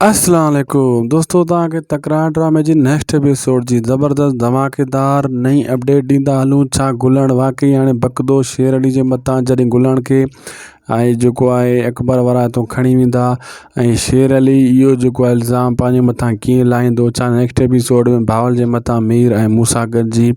السلام عليڪم دوستو تان کي تڪرار ڊرامي جي نيڪسٽ ايپيسوڊ جي زبردست ڌماڪيدار نئين اپڊيٽ ڏيندا هلون ڇا گلڻ واقعي هاڻي بڪدو شير علي جي متان جڏهن گلڻ کي ۽ جيڪو آهي اڪبر وارا هتو کڻي ويندا ۽ شير علي اهو جيڪو الزام پنهنجي متان ڪيئن لاهيندو ڇا نيڪسٽ ايپيسوڊ ۾ باول جي متان مير ۽ موسا گڏجي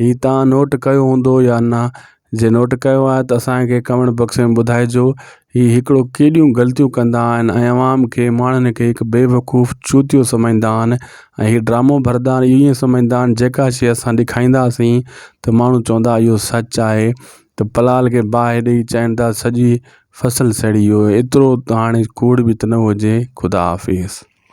ھي تان نوٽ ڪيو ھوندو يا نه جي نوٽ ڪيو آھي ته اسانکي ڪمينٽ بڪس ۾ ٻڌائجو ھي ھڪڙو ڪيڏيون غلطيون ڪندا آھن ۽ عوام کي ماڻھن کي ھڪ بيوقوف چوتيو سمجھدا آھن ۽ ھي ڊرامو بھردا آھن ايئن سمجھدا آھن جيڪا شيء اسان ڏيکائينداسين ته ماڻھو چوندا اھو سچ آھي ته پلال کي باھه ڏئي چين ٿا سڄي فصل سڙي ويو ايترو ته ھاڻي ڪوڙ به ته نه ھجي خدا حافظ